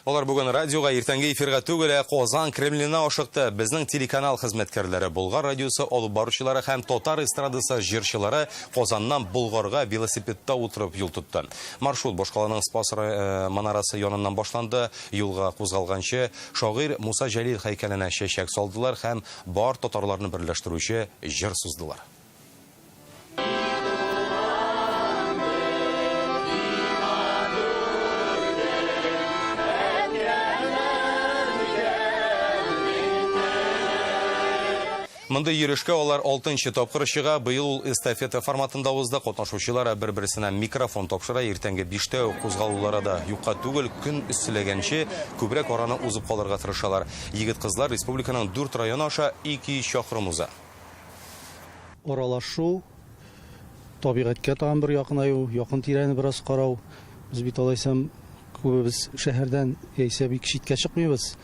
Алар бүген радиога иртәнге эфирга түгел, ә Казан Кремленына ашыкты. Безнең телеканал хезмәткәрләре, Болгар радиосы алып баручылары һәм татар эстрадасы җырчылары Казаннан Болгарга велосипедта утырып юл тотты. Маршрут башкаланың Спас манарасы яныннан башланды. Юлга кузгалганчы, шагыйрь Муса Җәлил һәйкәленә чәчәк салдылар һәм бар татарларны берләштерүче җыр суздылар. Мондый йөрешкә алар алтынчы тапкыр чыга. Быел ул эстафета форматында узды. Катнашучылар бер-берсенә микрофон тапшыра. Иртәнге биштә үк кузгалулары да юкка түгел. Көн эсселәгәнче, күбрәк араны узып калырга тырышалар. Егет-кызлар республиканың дүрт районы аша 200 чакрым уза. Аралашу, табигатькә тагын бер якынаю, якын тирәне бераз карау. Без бит алайсам күбебез шәһәрдән яисә бик читкә чыкмыйбыз.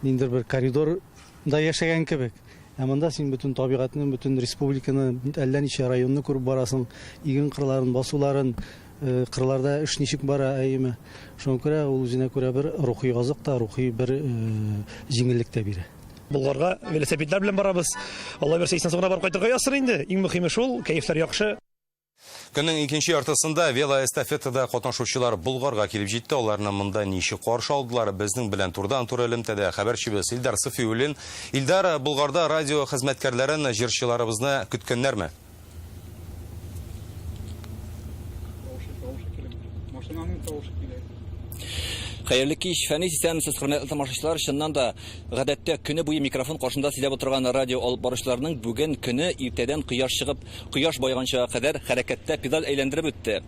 Ниндер бер коридор да яшәгән кебек. Ә монда син бөтен табигатьне, бөтен республиканы, әллә ничә районны күреп барасың, иген кырларын, басуларын, э, кырларда эш ничек бара, әйеме. Шуңа күрә ул үзенә күрә бер рухи азык та, рухи бер э, җиңеллек тә бирә. Болгарга велосипедлар белән барабыз. Алла бирсә, исән саулар барып кайтырга язсын инде. Иң мөһиме шул, кәефләр яхшы. Көннең икенче яртысында велоэстафетада катнашучылар Болгарга килеп җитте. Аларны монда ничек каршы алдылар? Безнең белән турыдан-туры элемтәдә хәбәрчебез Илдар Сафиуллин. Илдар, Болгарда радио хезмәткәрләрен, җырчыларыбызны көткәннәрме? Машинаның тавышы килә. Хәерле кич, Фәнис исәнмесез, хөрмәтле тамашачылар. Чыннан да, гадәттә көне буе микрофон каршында сөйләп отырган радио алып баручыларның бүген көне иртәдән кояш чыгып, кояш байганча кадәр хәрәкәттә педаль әйләндереп үтте.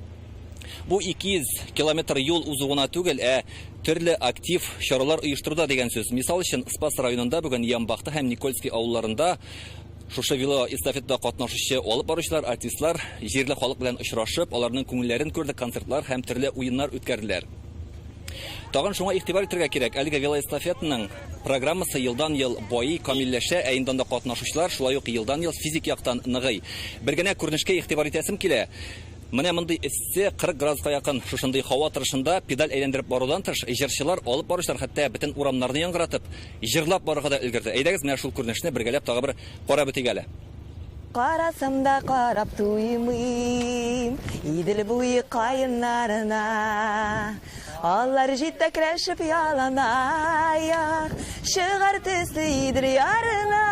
Бу 200 километр юл узу гына түгел, ә төрле актив чаралар оештыруда дигән сүз. Мисал өчен, Спас районында бүген Ямбахта һәм Никольский авылларында Шушы велоэстафетада катнашучы алып баручылар, артистлар җирле халык белән очрашып, аларның күңелләрен күрде, концертлар һәм төрле уеннар үткәрделәр. Тагын шуңа игътибар итәргә кирәк, әлеге велоэстафетаның программасы елдан-ел байый, камилләшә, ә инде анда катнашучылар шулай ук елдан-ел физик яктан ныгый. Бер генә күренешкә игътибар итәсем килә, менә мондый эссе, 40 градуска якын шушындый һава торышында педаль әйләндереп барудан тыш, җырчылар, алып баручылар хәтта бөтен урамнарны яңгыратып, Җырлап барырга да өлгерде. Әйдәгез, менә шул күренешне бергәләп тагы бер карап үтик әле. Карасам да карап туймыйм Идел буе каеннарына. Алар җитәкләшеп яланаяк, Чыгар төсле Идел ярына.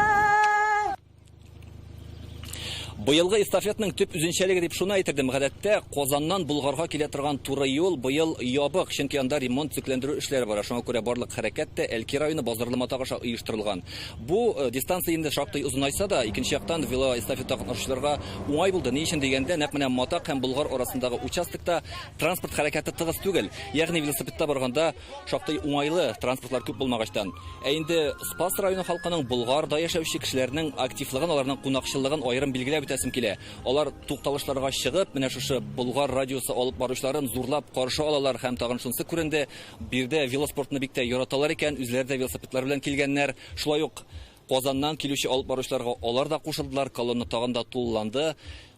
Быелгы эстафетның төп үзенчәлеге дип шуны әйтердем. Гадәттә, Казаннан Болгарга килә торган туры юл быел ябык, чөнки анда ремонт-төзекләндерү эшләре бара. Шуңа күрә барлык хәрәкәт тә Әлки районы Базарлы Матак аша оештырылган. Бу дистанция инде шактый озынайса да, икенче яктан, велоэстафета катнашучыларга уңай булды. Ни өчен дигәндә, нәкъ менә Матак һәм Болгар арасындагы участокта транспорт хәрәкәте тыгыз түгел. Ягъни велосипедта барганда, Шактый уңайлы, транспортлар күп булмагачтан. Ә инде Спас районы халкының Болгарда яшәүче кешеләрнең активлыгын, аларның кунакчыллыгын аерым билгеләп үтәсем килә. Алар тукталышларга чыгып, менә шушы Болгар радиосы алып баручыларын зурлап каршы алалар һәм тагын шунысы күренде, биредә велоспортны бик тә яраталар икән, үзләре дә велосипедлары белән килгәннәр. Шулай ук Казаннан килүче алып баручыларга алар да кушылдылар, колонна тагын да тулыланды.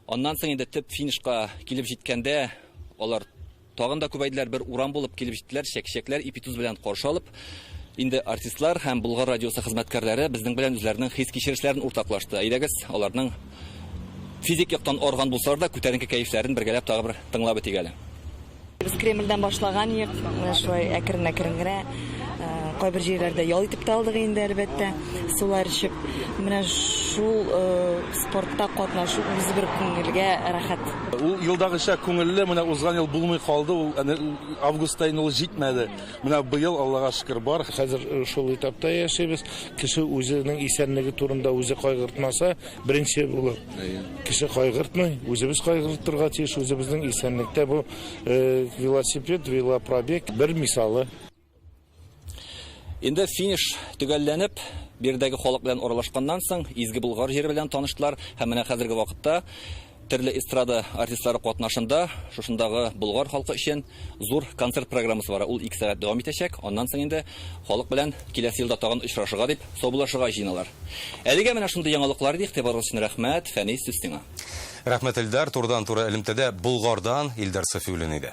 Аннан соң инде төп финишка килеп җиткәндә, алар Тагын да күбәйделәр, бер урам булып килеп җиттеләр, чәкчәкләр ипи туз белән каршы алып, инде артистлар һәм Болгар радиосы хезмәткәрләре безнең белән үзләренең хис-кичерешләрен уртаклашты. Әйдәгез, аларның физик яктан арыган булсалар да, күтәренке кәефләрен бергәләп тагы бер тыңлап үтик әле. Без Кремльдән башлаган идек, менә шулай әкрен-әкрен генә кайбер җирләрдә ял итеп тә алдык инде, әлбәттә, сулар эчеп. Менә шул Спортта катнашу үзе бер күңелгә рәхәт. Ул елдагыча күңелле, менә узган ел булмый калды ул, әнә августта инде ул җитмәде. Менә быел, Аллага шөкер, бар. Хәзер шул этапта яшибез. Кеше үзенең исәнлеге турында үзе кайгыртмаса, беренче булып кеше кайгыртмый, үзебез кайгыртырга тиеш, үзебезнең исәнлектә бу велосипед, велопробег бер мисалы. Инде финиш төгәлләнеп, биредәге халык белән аралашканнан соң, изге Болгар җыры белән таныштылар һәм менә хәзерге вакытта төрле эстрада артистлары катнашында шушындагы Болгар халкы өчен зур концерт программасы бара. Ул 2 сәгать дәвам итәчәк. Аннан соң инде халык белән киләсе елда тагын очрашырга дип саубуллашырга җыеналар. Әлегә менә шундый яңалыклар иде, игътибарыгыз өчен рәхмәт. Фәнис, сүз сиңа. Рәхмәт, Эльдар. Турыдан-туры элемтәдә Болгардан Илдар Сафиуллин иде.